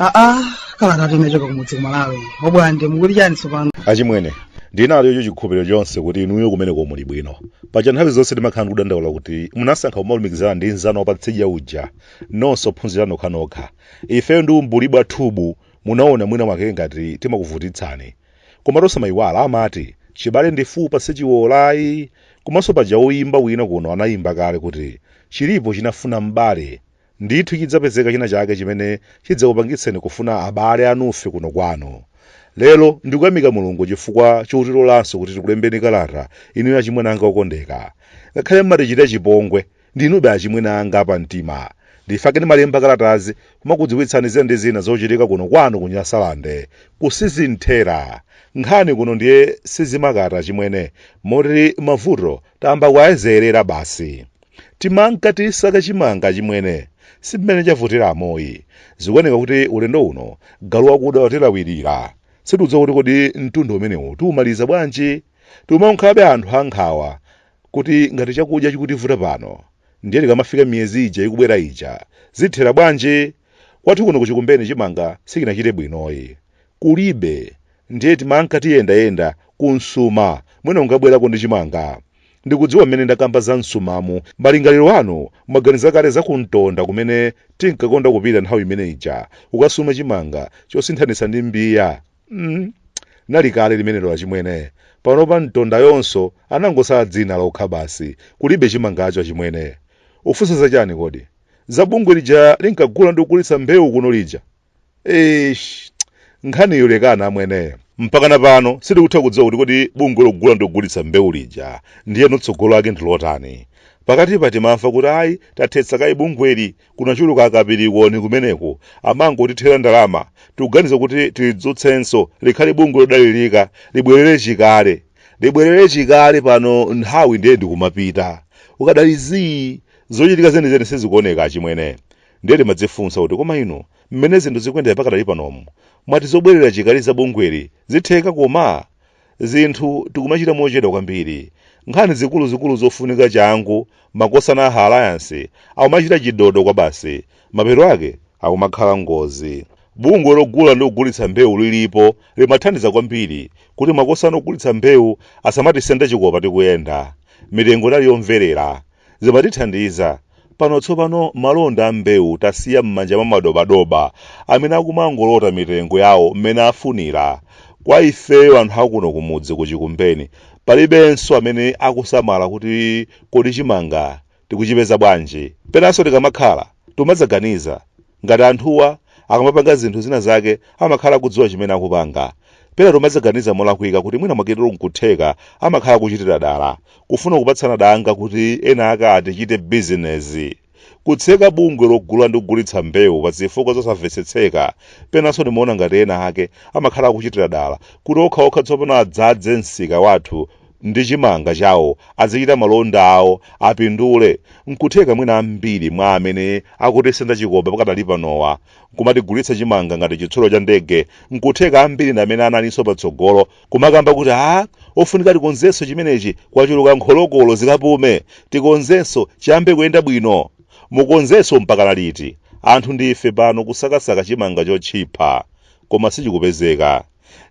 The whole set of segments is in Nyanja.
aa kalatatu imachoka kumudzi kumalawi obwande mukuti chani tsopano achimwene ndinacho chikhulupiriro chonse kuti inuyo kumeneko muli bwino paja nthawi zonse timakhala ndikudandaula kuti munasankha kumalumikizana ndi nzanu wapatsidya uja nonse ophunzira nokhanokha ifeyo ndi umbuli bwathubu Munaona mwina mwake ngati timakuvutitsani. Komatu osamayiwala amati chibale ndi fupa sichiwola ayi. Komanso paja woyimba wina kuno anayimba kale kuti chilipo chinafuna m'bale. Ndithu chidzapezeka china chake chimene chidzakupangitseni kufuna abale anufe kuno kwanu. Lero ndikuyamika Mulungu chifukwa chotilolanso kuti tikulembeni kalata inuyo achimwene anga okondeka. Ngakhale m'matichita chipongwe Ndinube achimwene anga apamtima. Ndifake ndimalemba kalatazi kumakudziwitsani zina ndi zina zochitika kuno kwanu ku Nyasalande. Ku sizinthera. Nkhani kuno ndiye sizimakata achimwene, moti mavuto tayamba kuwayezeyerera basi. Timanka tisaka chimanga achimwene. Si mmene chavutira amoyi. Zikuoneka kuti ulendo uno galu wakuda watilawirira. Sitikudziwa kuti kodi mtunda umenewu tiumaliza bwanji? Tikumakhalabe anthu ankhawa. kuti ngati chakudya chikutivuta pano ndiye tikamafika miyezi ija ikubwera ija zithera bwanji? Kwathu kuno ku Chikumbeni chimanga sichinachite bwinoyi. Kulibe. Ndiye timanka tiyendayenda ku nsuma mwina kungabwerako ndi chimanga. Ndikudziwa mmene ndakamba za nsumamu malingaliro anu mwaganiza kale za ku Ntonda kumene tinkakonda kupita nthawi imene ija kukasuma chimanga chosinthanitsa ndi mbiya. mm. nali kale limenelo achimwene panopa mtonda yonso anangosala dzina lokha basi kulibe chimangacho achimwene mufunsa zachani kodi za bungwe lija linkagula ndi kugulitsa mbewu kuno lija eish nkhaniyo lekani amwene mpakana pano sitikutha kudziwa kuti kodi bungwe logula ndi kugulitsa mbewu lija ndiyeno tsogolo lake ndilotani pakatipa timamva kuti ayi tathetsa kaye bungweli Kunachuluka akapirikoni kumeneko, amangotithera ndalama. Tikuganiza kuti tilidzutsenso, likhale bungwe lodalirika, libwerere chikale. Libwerere chikale pano nthawi ndiye ndikumapita. Kukadali zii, zochitika zenizeni sizikuoneka achimwene. Ndiye timadzifunsa kuti koma inu, mmene zinthu zikuyendera pakadali panomu, mwati zobwerera chikale za bungweli zitheka koma? Zinthu tikumachita mochedwa kwambiri. Nkhani zikuluzikulu zofunika changu makosana a Alliance akumachita chidodo kwabasi. Mapeto ake akumakhala ngozi. Bungwe logula ndi kugulitsa mbewu lilipo limathandiza kwambiri kuti makosana ogulitsa mbewu asamatisende chikopa tikuyenda. Mitengo inali yomverera. Zimatithandiza. Pano tsopano malonda a mbewu tasiya m'manja mwa madobadoba amene akumangolota mitengo yawo mmene afunira. Kwa ifeyo anthu akuno kumudzi ku Chikumbeni, palibenso amene akusamala kuti kodi chimanga tikuchipeza bwanji. Penanso tikamakhala, timadzaganiza Ngati anthuwa akamapanga zinthu zina zake amakhala akudziwa chimene akupanga, pena tomadzaganiza molakwika kuti mwina mwaketeromu nkutheka amakhala akuchitira dala, kufuna kupatsana danga kuti ena ake atichite bizinesi. Kutseka bungwe logula ndi kugulitsa mbewu pa zifukwa zosamvetsetseka, penanso ndimaona ngati ena ake amakhala akuchitira dala kuti okhaokha tsopano adzadze msika wathu ndi chimanga chawo azichita malonda awo apindule nkutheka mwina ambiri mwa amene akutisenda chikopa pakadali panowa kumatigulitsa chimanga ngati chitsulo cha ndege nkutheka ambiri ndi amene analinso patsogolo kumakamba kuti a ofunika tikonzenso chimenechi kwachuluka nkholokolo zikapume tikonzenso chiyambe kuyenda bwino mukonzenso mpaka liti anthu ndife pano kusakasaka chimanga chotchipha koma sichikupezeka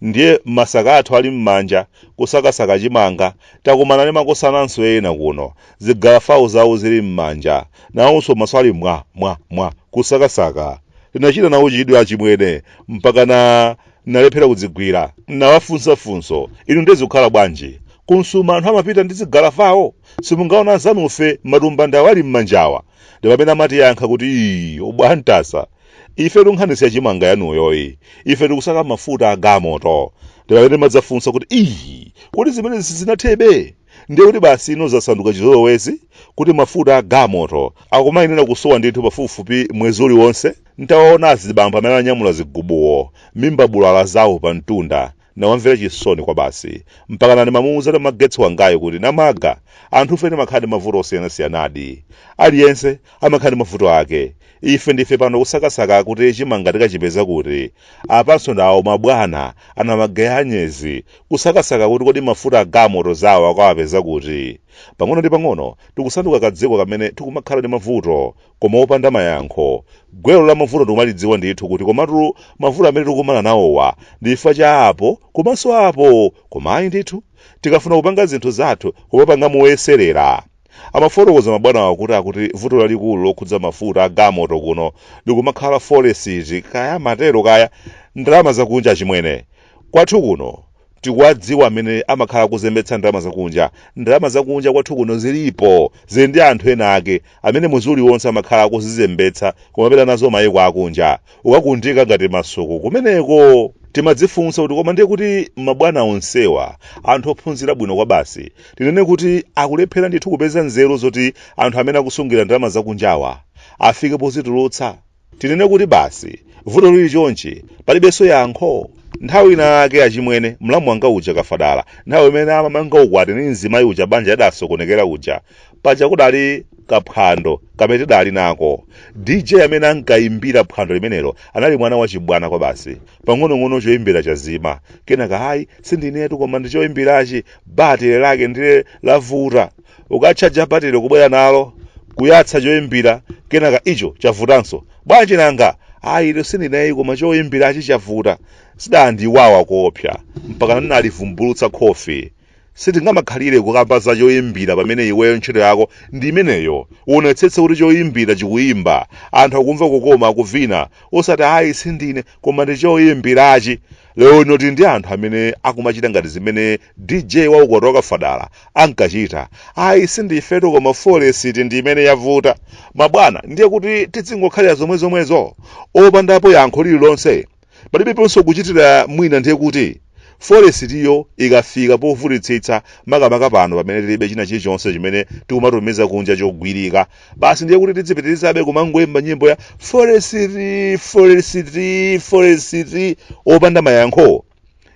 Ndiye matsaka athu ali mmanja kusakasaka chimanga, takumana ndi makosananso ena kuno, zigalafawo zawo zili mmanja, nawonso maso ali mwa, mwa, mwa, kusakasaka. Tinachita nawo chidwi achimwene mpakana tinalephera kudzigwira. Tinawafunsa funso, Inu ndiye zikukhala bwanji? Ku msuma anthu amapita ndi zigalafawo? Simungaona anzanufe matumba ndawo ali mmanjawa? Ndipamene amatiyankha kuti, Iii, obwantasa! ife tu nkhani si ya chimanga yanuyoyi ife tikusaka mafuta agamoto ndipamene ndimadzafunsa kuti iyi kuti zimenezi sizinathebe ndiye kuti basi ino zasanduka chizolowezi kuti mafuta agamoto akumayenera kusowa ndithu pafupifupi mwezi uliwonse ntawaona azibambo amene anyamula zigubuwo mimba bulaala zawo pa mtunda Ndinawamvera chisoni kwabasi. Mpakana ndimamuuza Namagetsi wangayu kuti, Namaga, anthufe timakhala ndi mavuto osiyanasiyanadi. Aliyense amakhala ndi mavuto ake. Ife ndife pano kusakasaka kuti chimanga tikachipeza kuti. Apanso ndi awo mabwana, ana mageya anyezi, kusakasaka kuti kodi mafuta agamoto zawo akawapeza kuti. Pang'ono ndi pang'ono tikusanduka kadziko kamene tikumakhala ndi mavuto. koma opanda mayankho gwero la mavuto tikumalidziwa ndithu kuti komatu mavuto amene tikumana nawowa ndi chifukwa cha apo komanso apo koma ayi ndithu tikafuna kupanga zinthu zathu kumapanga moyeserera amafotokoza mabwanawa kuti akuti vuto lalikulu lokhudza mafuta agamoto kuno likumakhala folesiti kaya matero kaya ndalama zakunja achimwene kwathu kuno tikuwadziwa amene amakhala kuzembetsa ndalama zakunja ndalama zakunja kwathu kuno zilipo zili ndi anthu ena ake amene mwezi uliwonse amakhala kuzizembetsa kumapita nazo mayiko akunja kukaunjika ngati masuku kumeneko timadzifunsa kuti koma ndiye kuti mabwana onsewa anthu ophunzira bwino kwabasi tinene kuti akulephera ndithu kupeza nzeru zoti anthu amene akusungira ndalama zakunjawa afike pozitulutsa Tinene kuti basi vuto lili chonchi palibenso yankho? Nthawi ina yake achimwene, mlamu wanga uja Kafadala, nthawi imene amamanga ukwati ndi mzimayi uja banja lidasokonekera uja, paja kudali kaphwando kamene tidali nako. DJ amene ankaimbira phwando limenelo anali mwana wachibwana kwabasi. pang'onong'ono choimbira chazima kenaka ayi sindinetu koma ndi choimbirachi batire lake ndile lavuta ukatchaja batire kubwera nalo kuyatsa choimbira kenaka icho chavutanso bwanji nanga ayi itu sindine ayi koma choimbirachi chavuta zidandiwawa koopsa mpaka ndinalivumbulutsa khofi Sitingamakhalire kukamba za choimbira pamene iweyo ntchito yako ndi imeneyo. Uonetsetse kuti choimbira chikuimba, anthu akumva kukoma akuvina, osati ayi sindine koma ndi choimbirachi. Lero lino tili ndi anthu amene akumachita ngati zimene DJ wa ukwati wa Kafadala ankachita. Ayi sindifetu koma forex ndi imene yavuta. Mabwana, ndiye kuti tidzingokhalira zomwezomwezo? Opandapo yankho lililonse? Palibeponso kuchitira mwina ndiye kuti, forex-yo ikafika povutitsitsa, makamaka pano pamene tilibe china chilichonse chimene tikumatumiza kunja chogwirika, basi ndiye kuti tidzipitirizabe kumangoimba nyimbo ya forex, forex, forex opanda mayankho?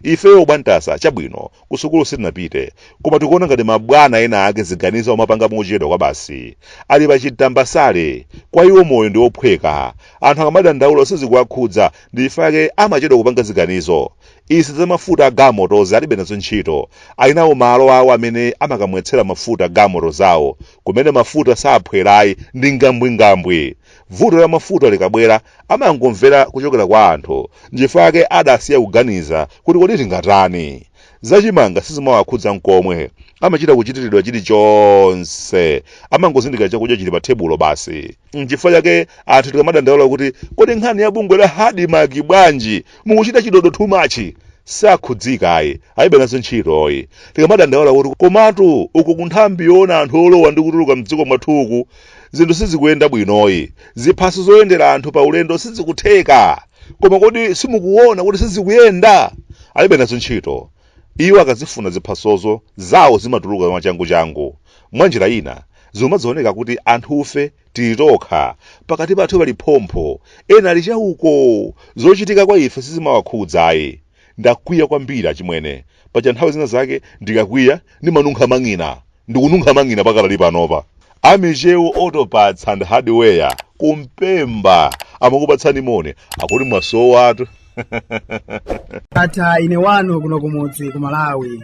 Ifeyo bwantasa chabwino kusukulu sitinapite koma tikuona ngati mabwana ena ake ziganizo amapanga mochedwa kwabasi. Ali pa chimtambasale, kwa iwo moyo ndi ophweka. Anthu akamadandaula sizikuwakhudza ndi chifukwa chake amachedwa kupanga ziganizo. Izi za mafuta a galimotozi alibe nazo ntchito. Ali nawo malo awo amene amakamwetsera mafuta galimoto zawo. Kumene mafuta saphwera ayi ndi ngambwingambwi. Vuto la mafuta likabwera, amangomvera kuchokera kwa anthu. Nchifukwa chake adasiya kuganiza kuti kodi tingatani. Za chimanga sizimawakhudza nkomwe. Amachita kuchitiridwa chilichonse. Amangozindikira chakudya chili pathebulo basi. Nchifukwa chake anthu tikamadandaula kuti kodi nkhani ya bungwe la ADMARC bwanji? Mukuchita chidodo too much. Sakhudzika ayi. Alibe nazo ntchito ayi. Tikamadandaula kuti komatu uku kunthambi yoona anthu olowa ndi kutuluka m'dziko mwathuku zinthu sizikuyenda bwinoyi ziphaso zoyendera anthu pa ulendo sizikutheka koma kodi simukuona kuti sizikuyenda alibe nazo ntchito iwo akazifuna ziphasozo zawo zimatuluka mwachanguchangu mwa njira ina zumadzaoneka kuti anthufe tili tokha pakati pathu pali phompho ena ali chauko zochitika kwa ife sizimawakhudzayi Ndakwiya kwambiri achimwene. Paja nthawi zina zake ndikakwiya ndimanunkha mang'ina. Ndikununkha mang'ina pakadali panopa. A Michewu Autoparts and Hardware ku Mpemba amakupatsani moni. Akuti mwasowatu. Ndatha ine wanu kuno kumudzi ku Malawi.